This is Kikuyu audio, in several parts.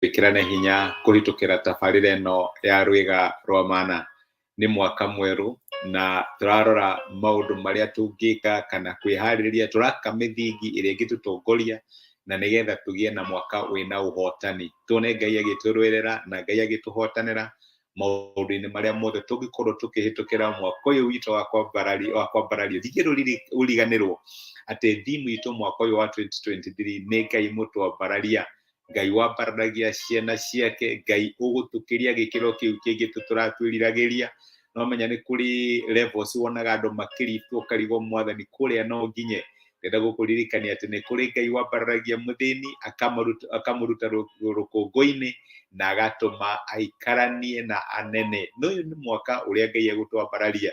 twĩkĩrane hinya kũhĩtũkĩra tabarĩra ĩno ya rwĩga rwa mana nĩ mwaka mwerũ na tũrarora maũndũ marĩa tũngĩka kana kwĩharĩrĩria tũraka mĩthingi ĩrĩa ĩngĩtũtongoria na nĩgetha tũgĩe na mwaka wĩna ũhotani tuone ngai agĩtũrũĩrĩra na ngai agĩtũhotanĩra maũndũ-inĩ marĩa mothe tũngĩkorwo tũkĩhĩtũkĩra mwaka ũyũ witũ wa kwambarario wa kwambarario thigĩ rũriganĩrwo atĩ thimu itũ mwaka ũyũ wa 2023 nĩ ngai mũtwambararia ngai wambaranagia ciana ciake ngai ũgũtũkĩria gĩkĩro kĩu kĩngĩ tũtũratwĩriragĩria no menya nĩ kũrĩ levels wonaga andũ makĩritwo ũkarigwo mwathani kũrĩa no nginye ndenda gũkũririkania atĩ nĩ kũrĩ ngai wambaranagia mũthĩni akamaruta- akamũruta rũ- rũkũngũ-inĩ na agatũma aikaranie na anene na ũyũ nĩ mwaka ũrĩa ngai egũtwambararia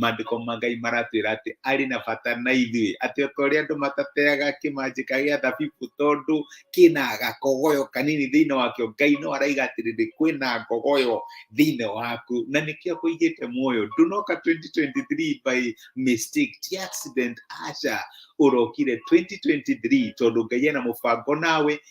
mandĩko ma ngai maratwĩra atĩ arĩ na bata na ithuĩ atĩ o ta ũrĩa andũ matateaga kĩmanjĩka gĩa thabibũ tondũ kĩna gakogoyo kanini thĩinĩ wakĩo ngai no araiga atĩrĩrĩ kwĩna ngogoyo thĩinĩ waku na nĩkĩo akũigĩte muoyo ndũnoka 2023 by mistake ti accident aca ũrokire 2023 tondũ ngai ena mũbango nawe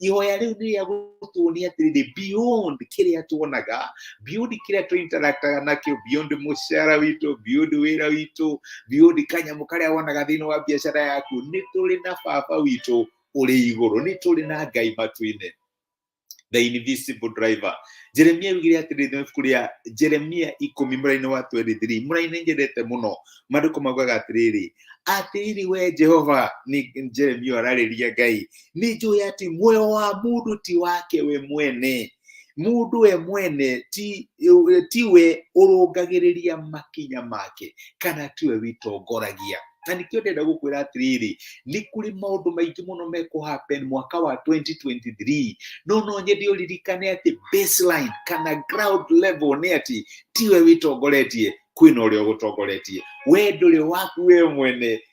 ihoya rĩu nĩ rĩa gũtuonia atĩrĩ nĩ beyond kĩrĩa tuonaga beyond kĩrĩa tũ interactaga nakĩo beyond mũcara witũ beyond wĩra witũ beyond kanyamũ karĩa wonaga thĩinĩ wa biacara yaku nĩ tũrĩ na baba witũ ũrĩ igũrũ nĩ tũrĩ na ngai matu-inĩ the invisible driver jeremia augire atĩrĩ nĩ ibuku rĩa jeremia ikũmi mũrainĩ wa 23 mũrainĩ nyendete mũno maandĩko maugaga atĩrĩrĩ atĩrĩrĩ we jehova nĩ jeremia ararĩria ngai nĩ njũĩ atĩ muoyo wa mũndũ ti wake we mwene mũndũ we mwene ti, ti we ũrũngagĩrĩria makinya make kana tiwe wĩtongoragia na nĩkĩo ndenda gũkwĩra atĩrĩrĩ nĩ kũrĩ maũndũ maingĩ mũno mekũhappen mwaka wa 2023 no no nyende ũririkane atĩ baseline kana ground level nĩ atĩ tiwe wĩtongoretie kwĩna ũrĩa ũgũtongoretie we ndũrĩ waku we mwene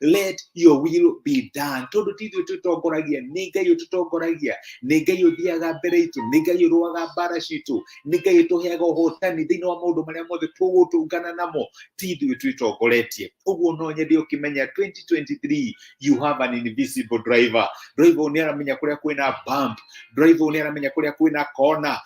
let your will be done tondu ti ithuĩ twĩtongoragia nĩ ngai ũtũtongoragia nĩ ngai ũthiaga mbere itũ nĩ ngai ũrũaga mbara citũ nĩ ngai ũtũheaga ũhotani thĩinĩ wa maũndũ marĩa mothe tũgũtũngana namo ti ithuĩ twĩtongoretie ũguo no nyende ũkĩmenya 2023 you have an invisible driver driver ũyũ nĩ aramenya kũrĩa kwĩna bump driver ũyũ nĩ aramenya kũrĩa kwĩna kona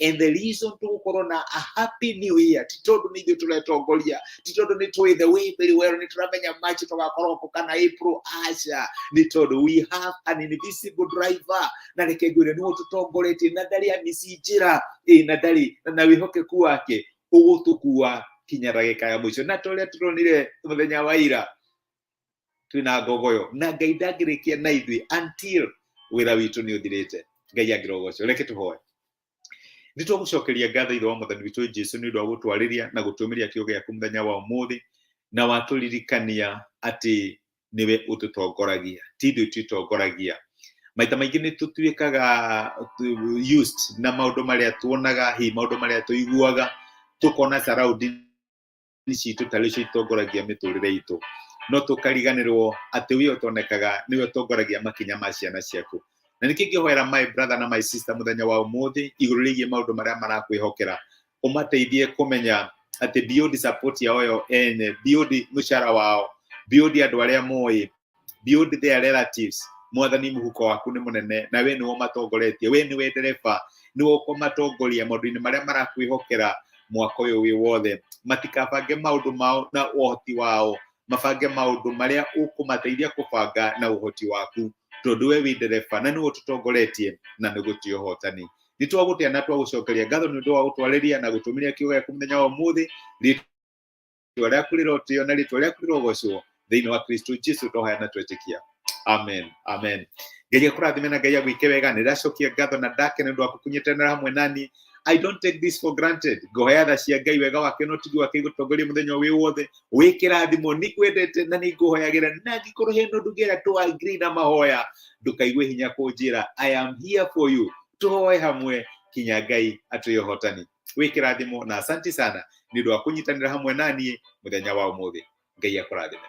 and the reason tũgũkorwo na a happy new year ti tondũ nĩ ithuĩ tũretongoria ti tondũ nĩ tũĩ the way very well nĩ tũramenya march tũgakorwo kũ kana april aca nĩ tondũ we have an invisible driver na reke ngwĩre nĩ ũtũtongoretie na ndarĩ amici njĩra ĩ na ndarĩ na na wĩhokeku wake ũgũtũkua kinya ndagĩka ya mũico na ta ũrĩa tũronire mũthenya wa ira twina ngogo yo na ngai ndangĩrĩkia na ithuĩ until wĩra witũ nĩ ũthirĩte ngai angĩrogocwo reke tũhoe nĩ tũgũcokeria ngatho ithe wa mwathani witũ jesu nĩ ũndũ wa gũtwarĩria na gũtũmĩria kiugo gĩaku mũthenya wa ũmũthĩ na watũririkania atĩ nĩwe ũtũtongoragia ti ithuĩ twĩtongoragia maita maingĩ nĩ tũtuĩkaga uh, used na maũndũ marĩa tuonaga hihi maũndũ marĩa tũiguaga tũkona surrounding citũ ta rĩcio itongoragia mĩtũrĩre itũ no tũkariganĩrwo atĩ ũyũ ũtonekaga nĩwe ũtongoragia makinya ma ciana ciaku na nĩkĩ ngĩhoera my brother na my sister mũthenya wa ũmũthĩ igũrũ rĩgiĩ maũndũ marĩa marakwĩhokera ũmateithie kũmenya atĩ beyond support yao yo ene beyond mũcara wao beyond andũ arĩa moĩ build their relatives mwathani muhuko waku nĩ mũnene na we nĩwe ũmatongoretie we nĩwe ndereba nĩwe ũkũmatongoria maũndũ-inĩ marĩa marakwĩhokera mwaka ũyũ wĩ wothe matikabange maũndũ mao na ũhoti wao mabange maũndũ marĩa ũkũmateithia kũbanga na ũhoti waku tondũ we wĩ ndereba na nĩwe ũtũtongoretie na nĩ gũtĩ ũhotani nĩ twagũtĩa na twagũcokeria ngatho nĩ ũndũ wa gũtwarĩria na gũtũmĩria kiugo gĩaku mũthenya wa ũmũthĩ itua rĩaku rĩrĩ ũtĩo na rĩtwa rĩaku rĩrĩ ũgocwo thĩinĩ wa kristo jesu tũhoya na twetĩkia amen amen ngai akũrathime na ngai agwĩke wega nĩ ndacokia ngatho na ndake nĩ ũndũ wa kũkunyetanĩra hamwe nani I don't take this for granted. Ngohoya tha cia Ngai wega wake no tigi wake igũtongoria mũthenya wĩ wothe. Wĩ kĩrathimo nĩ kwendete na nĩ ngũhoyagĩra na angĩkorwo he no ndugĩra tũ agree na mahoya ndũkaigue hinya kũnjĩra I am here for you. Tũhoe hamwe kinya Ngai atwĩ ũhotani. wikirathimo na asanti sana ni ndu wa kunyitanira hamwe nanie muthenya wa umuthi ngai akurathime